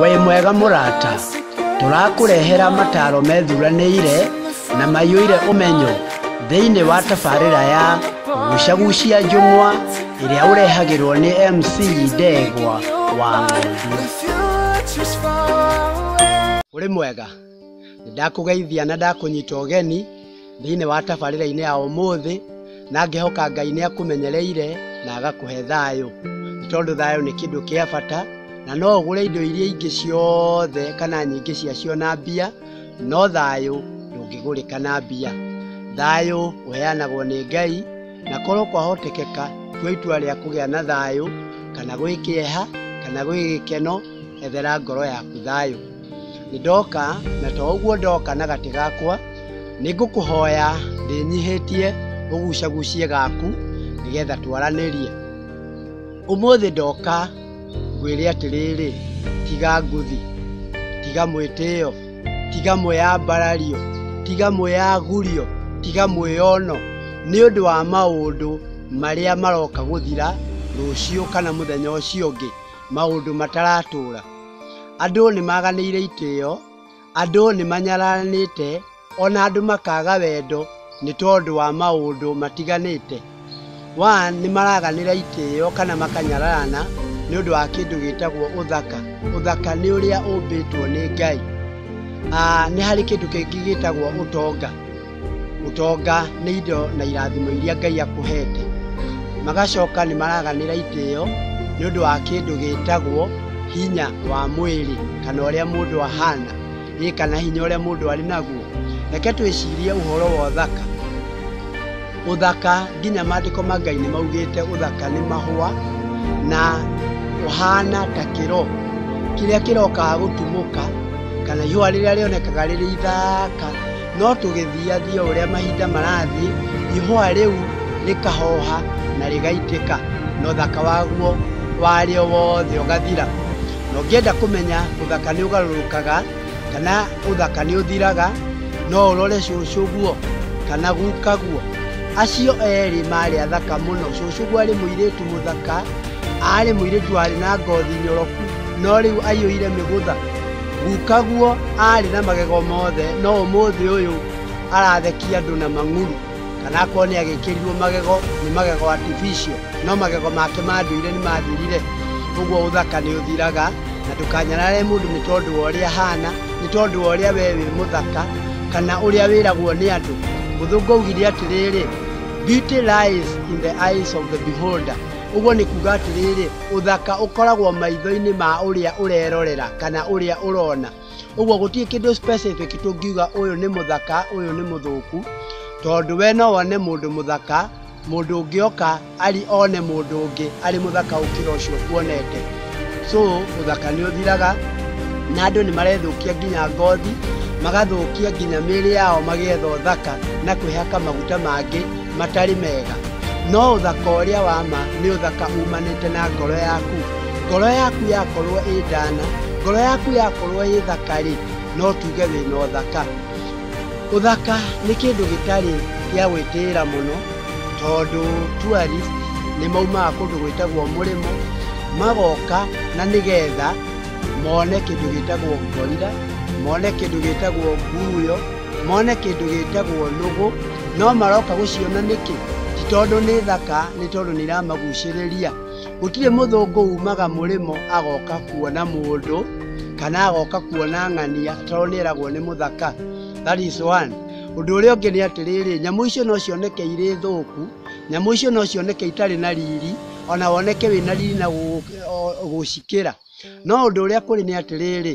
wĩ mwega mũrata tũrakũrehera mataro methuranĩire na maiyũire ũmenyo thĩinĩ wa tabarĩra ya gucagucia njũng'wa ĩrĩa ũrehagĩrwo nĩ mc ndegwa wa ng'ondu ũrĩ mwega nĩ ndakũgeithia na ndakũnyita ũgeni thĩinĩ wa tabarĩra-inĩ ya ũmũthĩ na ngehoka ngai nĩ akũmenyereire na agakũhe thayũ nĩ tondũ thayũ nĩ kĩndũ kĩa bata na no ũgũre indo iria ingĩ ciothe kana nyingĩ ciacio na mbia no thayũ ndũngĩgũrĩka na mbia thayũ ũheanagwo nĩ ngai na korwo kwahotekeka tua itua rĩa kũgĩa na thayũ kana gwĩkĩeha kana gwĩgĩkeno ethera ngoro yaku thayũ nĩ ndoka na to ũguo ndoka na gatĩ gakwa nĩ ngũkũhoya ndĩnyihĩtie ũgucagucie gaku nĩgetha twaranĩrie ũmũthĩ ndoka ngwĩre atĩrĩrĩ tiga ngũthi tiga mwĩtĩyo tiga mwĩyambarario tiga mwĩyagurio tiga mwĩyono nĩ ũndũ wa maũndũ marĩa maroka gũthira rũciũ kana mũthenya ũcio ũngĩ maũndũ mataratũra Andũ nĩ maganĩire itĩo, andũ nĩ manyaranĩte, o na andũ makaga wendo nĩ tondũ wa maũndũ matiganĩte. Wa, nĩ maraganĩra itĩo kana makanyararana nĩ ũndũ wa kĩndũ gĩtagwo ũthaka. Ũthaka nĩ ũrĩa ũmbĩtwo nĩ Ngai. Nĩ harĩ kĩndũ kĩngĩ gĩtagwo ũtonga. Ũtonga nĩ indo na irathimo iria Ngai akũhete. Magacoka nĩ maraganĩra itĩo nĩ ũndũ wa kĩndũ gĩtagwo hinya wa mwĩrĩ kana ũrĩa mũndũ ahana ĩ kana hinya ũrĩa mũndũ arĩ naguo. Reke twĩcirie ũhoro wa ũthaka. Ũthaka nginya maandĩko ma Ngai nĩ maugĩte ũthaka nĩ mahũa na ũhana ta kĩro kĩrĩa kĩrokaga gũtumũka kana ihũa rĩrĩa rĩonekaga rĩrĩ ithaka. No tũgĩthiathia o ũrĩa mahinda marathiĩ, ihũa rĩu rĩkahooha na rĩgaitĩka, na ũthaka waguo warĩo wothe ũgathira. Na ũngĩenda kũmenya ũthaka nĩ ũgarũrũkaga kana ũthaka nĩ ũthiraga, no ũrore cũcũguo kana gukaguo. Acio erĩ maarĩ athaka mũno. Cũcũguo aarĩ mũirĩtu mũthaka, aarĩ mũirĩtu warĩ na ngothi nyoroku, no rĩu aiyũire mĩgũtha. Gukaguo arĩ na magego mothe no ũmũthĩ ũyũ arathekia andũ na mang'uru kana akorwo nĩ agĩkĩrirwo magego nĩ magego artificial no magego make ma ndũire nĩ mathirire ũguo ũthaka nĩ ũthiraga na ndũkanyarare mũndũ nĩ tondũ wa ũrĩa ahana nĩ tondũ wa ũrĩa wee wĩ mũthaka kana ũrĩa wĩragwo nĩ andũ mũthũngũ augire atĩrĩrĩ beauty lies in the eyes of the beholder Ũguo nĩ kuuga atĩrĩrĩ, ũthaka ũkoragwo maitho-inĩ ma ũrĩa ũrerorera kana ũrĩa ũrona. Ũguo gũtirĩ kĩndũ specific tũngiuga ũyũ nĩ mũthaka, ũyũ nĩ mũthũku, tondũ we no wone mũndũ mũthaka, mũndũ ũngĩ oka one mũndũ ũngĩ arĩ mũthaka gũkĩra ũcio ũkuonete. so ũthaka nĩ ũthiraga na andũ nĩ marethũkia nginya ngothi magathũkia nginya mĩĩrĩ yao magĩetha ũthaka na kwĩhaka maguta mangĩ matarĩ mega no ũthaka ũrĩa wa ma nĩ ũthaka umanĩte na ngoro yaku ngoro yaku yakorwo ĩndana ngoro yaku yakorwo ĩthaka-rĩ no tuge wĩna ũthaka Ũthaka nĩ kĩndũ gĩtarĩ gĩa gwĩtĩĩra mũno tondũ tourist nĩ maumaga kũndũ gwĩtagwo mũrĩmo magoka na nĩgetha mone kĩndũ gĩtagwo ngorira, mone kĩndũ gĩtagwo nguyo, mone kĩndũ gĩtagwo nũgũ. No maroka gũciona nĩkĩ? Ti tondũ nĩ thaka, nĩ tondũ nĩ iramagucĩrĩria. Gũtirĩ mũthũngũ umaga mũrĩmo agoka kuona mũndũ kana agoka kuona ng'ania tondũ nĩ eragwo nĩ mũthaka. That is one. Ũndũ ũrĩa ũngĩ nĩ atĩrĩrĩ, nyamũ icio no cioneke irĩ thũku, nyamũ icio no cioneke itarĩ na riri, ona woneke wĩna riri na gũgũcikĩra. No ũndũ ũrĩa kũrĩ nĩ atĩrĩrĩ,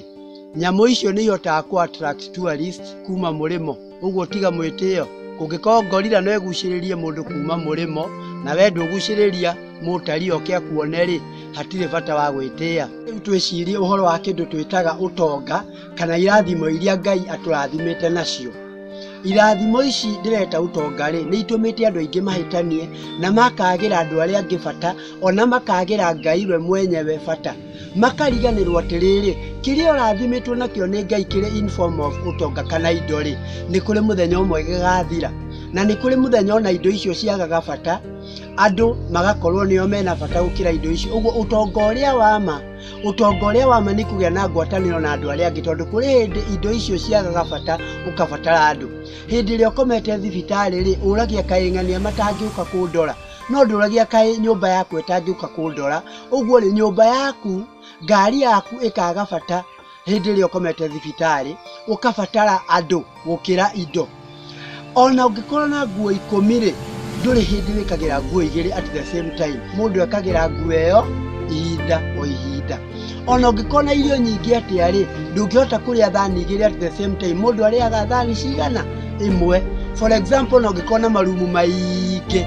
nyamũ icio nĩ ihotaga kũ attract tourist kuma mũrĩmo, ũguo tiga mwĩtĩo. Kũngĩkorwo ngorira no ĩgucĩrĩrie mũndũ kuma mũrĩmo, na we ndũgucĩrĩria mũtarii oke akuone rĩ, hatirĩ bata wa gwĩtĩa. Rĩu twĩcirie ũhoro wa kĩndũ twĩtaga ũtonga, kana irathimo iria Ngai atũrathimĩte nacio. Irathimo ici ndĩreta ũtonga rĩ, nĩ itũmĩte andũ aingĩ mahĩtanie, na makagĩra andũ arĩa angĩ bata. ona makagĩra Ngai we mwenyewe bata, makariganĩrwo atĩrĩrĩ, kĩrĩa ũrathimĩtwo nakĩo nĩ Ngai kĩrĩ in form of ũtonga kana indo rĩ, nĩ kũrĩ mũthenya ũmwe gĩgathira, na nĩ kũrĩ mũthenya ona indo icio ciagaga bata, andũ magakorwo nĩo mena bata gũkĩra indo icio. Ũguo ũtonga ũrĩa wa ma, ũtonga ũrĩa wa ma nĩ kũgĩa na ngwatanĩro na andũ arĩa angĩ, tondũ kũrĩ hĩndĩ indo icio ciagaga bata ũkabatara andũ. Hĩndĩ ĩrĩa ũkomete thibitarĩ rĩ, ũragia kaĩ ng'ania matangĩũka kũndora? no ndũragia kaĩ nyũmba yaku ĩtangĩũka kũndora ũguo rĩ nyũmba yaku ngari yaku ĩkaga bata hĩndĩ ĩrĩa ũkomete thibitarĩ ũkabatara andũ gũkĩra indo ona ũngĩkorwo na nguo ikũmi rĩ ndũrĩ hĩndĩ wĩkagĩra nguo igĩrĩ at the same time mũndũ ekagĩra nguo ĩyo ihinda o ihinda ona ũngĩkorwo na irio nyingĩ atĩa-rĩ ndũngĩhota kũrĩa thani igĩrĩ at the same time mũndũ arĩaga thani cigana ĩmwe for example ona ũngĩkorwo na marumu maingĩ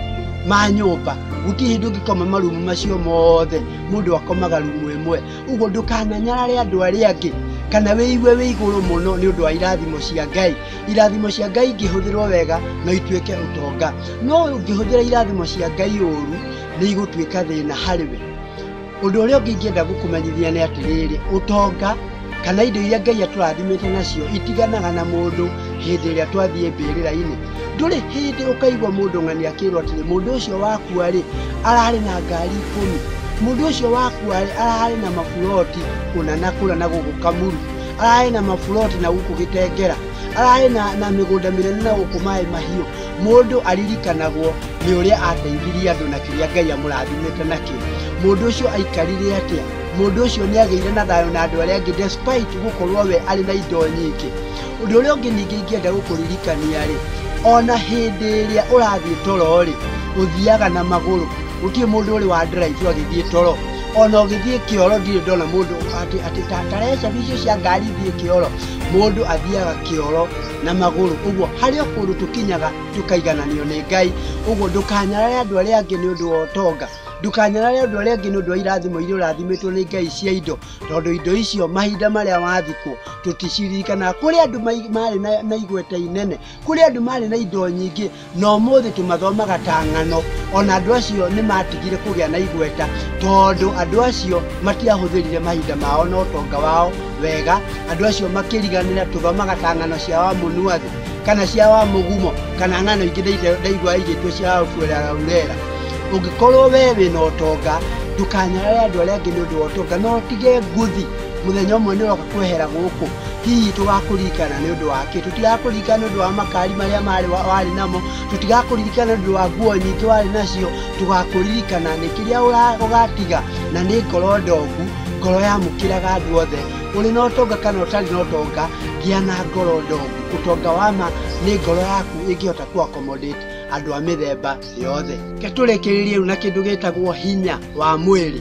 ma nyũmba gũtirĩ hĩndĩ ũngĩkoma marumu macio mothe mũndũ akomaga rumu ĩmwe ũguo ndũkananyarare andũ arĩa angĩ kana wĩigue wĩ igũrũ mũno nĩ ũndũ wa irathimo cia ngai irathimo cia ngai ingĩhũthĩrwo wega no ituĩke ũtonga no ũngĩhũthĩra irathimo cia ngai ũru nĩ igũtuĩka thĩna harĩ we Ũndũ ũrĩa ũngĩ ingĩenda gũkũmenyithia nĩ atĩrĩrĩ, ũtonga kana indo iria Ngai atũrathimĩte nacio itiganaga na mũndũ hĩndĩ ĩrĩa twathiĩ mbĩrĩra-inĩ. Ndũrĩ hĩndĩ ũkaigua mũndũ ng'ani akĩrwo atĩrĩ, mũndũ ũcio wakua-rĩ, ararĩ na ngari ikũmi, mũndũ ũcio wakua-rĩ, ararĩ na maburoti kũna na kũna na gũkũ Kamuru, ararĩ na maburoti na gũkũ Gĩtengera. ararĩ na, na mĩgũnda mĩnene na gũkũ maĩ mahiũ mũndũ aririkanagwo nĩ ũrĩa ateithirie andũ na kĩrĩa ngai amũrathimĩte nakĩ mũndũ ũcio aikarire atĩa mũndũ ũcio nĩ agĩire na thayũ na andũ arĩa angĩ despite gũkorwo we arĩ na indo nyingĩ ũndũ ũrĩa ũngĩ ningĩ ingĩenda gũkũririkania rĩ ona hĩndĩ ĩrĩa ũrathiĩ toro rĩ ũthiaga na magũrũ gũtirĩ mũndũ ũrĩ wa drive agĩthiĩ toro ona ũgĩthiĩ kĩoro ndirĩ ndona mũndũ atĩ atĩ ta- tareca icio cia ngari ithiĩ kĩoro Mũndũ athiaga kĩoro na magũrũ, ũguo harĩ o kũndũ tũkinyaga tũkaigananio nĩ Ngai. Ũguo ndũkanyarare andũ arĩa angĩ nĩ ũndũ wa ũtonga, ndũkanyarare andũ arĩa angĩ nĩ ũndũ wa irathimo iria ũrathimĩtwo nĩ Ngai cia indo, tondũ indo icio mahinda marĩa wathikwo tũticiririkanaga. Kũrĩ andũ marĩ na igweta inene, kũrĩ andũ marĩ na indo nyingĩ, na ũmũthĩ tũmathomaga ta ng'ano. O na andũ acio nĩ maatigire kũgĩa na igweta tondũ andũ acio matiahũthĩrire mahinda mao na ũtonga wao wega. Andũ acio makĩriganĩra. Tũthomaga ta ng'ano cia wa mũnuathĩ kana cia wa mũgumo kana ng'ano ingĩ ndaita- ndaigua igĩtwo cia wa ũbueraraurera. Ũngĩkorwo wee wĩ na ũtonga ndũkanyarare andũ arĩa angĩ nĩ ũndũ wa ũtonga, no ũtige ngũthi mũthenya ũmwe nĩ ũroka kwehera gũkũ hihi tũgakũririkana nĩ ũndũ wakĩ tũtigakũririkana nĩ ũndũ wa makari marĩa marĩ wa- warĩ namo tũtigakũririkana nĩ ũndũ wa nguo nyingĩ warĩ nacio tũgakũririkana nĩ kĩrĩa ũra- ũgatiga na nĩ ngoro ndongu ngoro yamũkĩraga andũ othe ũrĩ na ũtonga kana ũtarĩ na ũtonga gĩa na ngoro ndongu ũtonga wa ma nĩ ngoro yaku ĩngĩhota ku accommodate andũ a mĩthemba yothe ke tũrĩkĩrĩrie rĩu na kĩndũ gĩtagwo hinya wa mwĩrĩ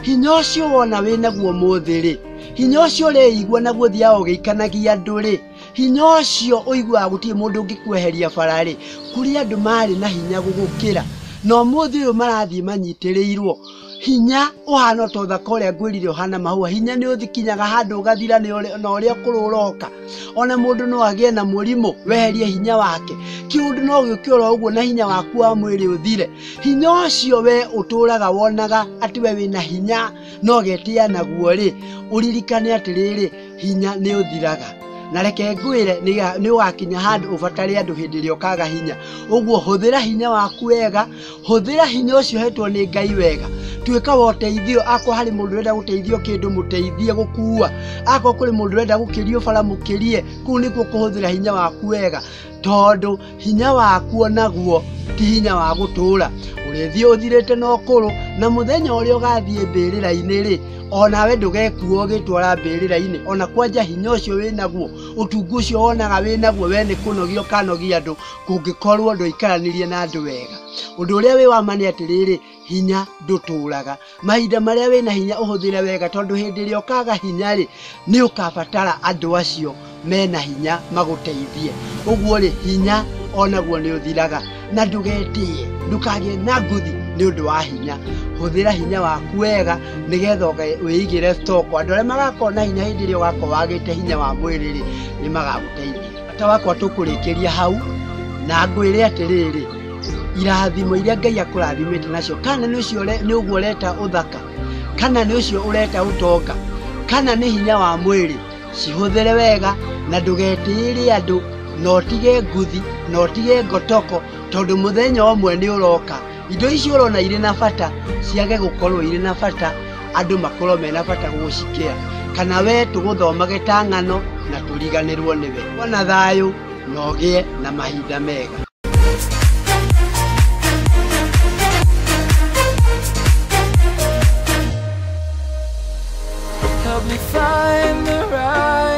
hinya ũcio wona wĩnaguo mũthĩ-rĩ hinya ũcio ũreigua naguo ũthiaga ũgĩikanagia andũ-rĩ hinya ũcio ũiguaga gũtirĩ mũndũ ũngĩkweheria bara-rĩ kũrĩ andũ marĩ na hinya gũgũkĩra na ũmũthĩ ũyũ marathiĩ manyitĩrĩirwo hinya ũhana ta ũthaka ũrĩa ngwĩrire ũhana mahũa hinya nĩ ũthikinyaga handũ ũgathira nĩ ũrĩ- na ũrĩa kũrũ ũroka ona mũndũ no agĩe na mũrimũ weherie hinya wake kĩũndũ no gĩũke oro ũguo na hinya waku wa mwĩrĩ ũthire hinya ũcio we ũtũraga wonaga atĩ we wĩna hinya no getia naguo-rĩ, ũririkane atĩrĩrĩ, hinya nĩ ũthiraga. Na reke ngwĩre nĩ ũgakinya handũ ũbatare andũ hĩndĩ ĩrĩa ũkaga hinya. Ũguo hũthĩra hinya waku wega, hũthĩra hinya ũcio ũhetwo nĩ Ngai wega. Tuĩka wa ũteithio, akorwo harĩ mũndũ ũrenda gũteithio kĩndũ mũteithie gũkua, akorwo kũrĩ mũndũ ũrenda gũkĩrio bara mũkĩrie, kũu nĩkuo kũhũthĩra hinya waku wega. tondũ hinya waku onaguo ti hinya wa gũtũũra ũrĩthiĩ ũthirĩte na ũkũrũ na mũthenya ũrĩa ũgathiĩ mbĩrĩra-inĩ rĩ onawe ndũgekuo ũgĩtwara mbĩrĩra-inĩ ona kwanja hinya ũcio wĩnaguo ũtungu ũcio wonaga wĩnaguo we nĩ kũnogia ũkanogia andũ kũngĩkorwo ndwaikaranĩrie na andũ wega ũndũ ũrĩa wĩ wama nĩ atĩrĩrĩ hinya ndũtũraga mahinda marĩa wĩna hinya ũhũthĩre wega tondũ hĩndĩ ĩrĩa ũkaga hinya rĩ nĩ ũkabatara andũ acio mena hinya magũteithie ũguo rĩ hinya onaguo nĩ ũthiraga na ndũgetĩe ndũkagĩe na nguthi nĩ ũndũ wa hinya hũthĩra hinya waku wega nĩgetha ũge- wĩigĩre stoko andũ arĩa magakona hinya hĩndĩ ĩrĩa ũgakorwo wagĩte hinya wa mwĩrĩ rĩ nĩ magagũteithia Bata wakwa tũkũrĩkĩria hau na ngwĩre atĩrĩrĩ, irathimo iria Ngai akũrathimĩte nacio, kana nĩ ũcio ũre- nĩ ũguo ũreta ũthaka, kana nĩ ũcio ũreta ũtonga, kana nĩ hinya wa mwĩrĩ, cihũthĩre wega na ndũgetĩĩre andũ, na ũtige nguthi, na ũtige ngotoko, tondũ mũthenya ũmwe nĩ ũroka indo ici ũrona irĩ na bata ciage gũkorwo irĩ na bata andũ makorwo mena bata gũcikĩa kana we tũgũthomage ta ng'ano na tũriganĩrwo nĩwe ona thayũ na ũgĩe na mahinda mega Help me find the right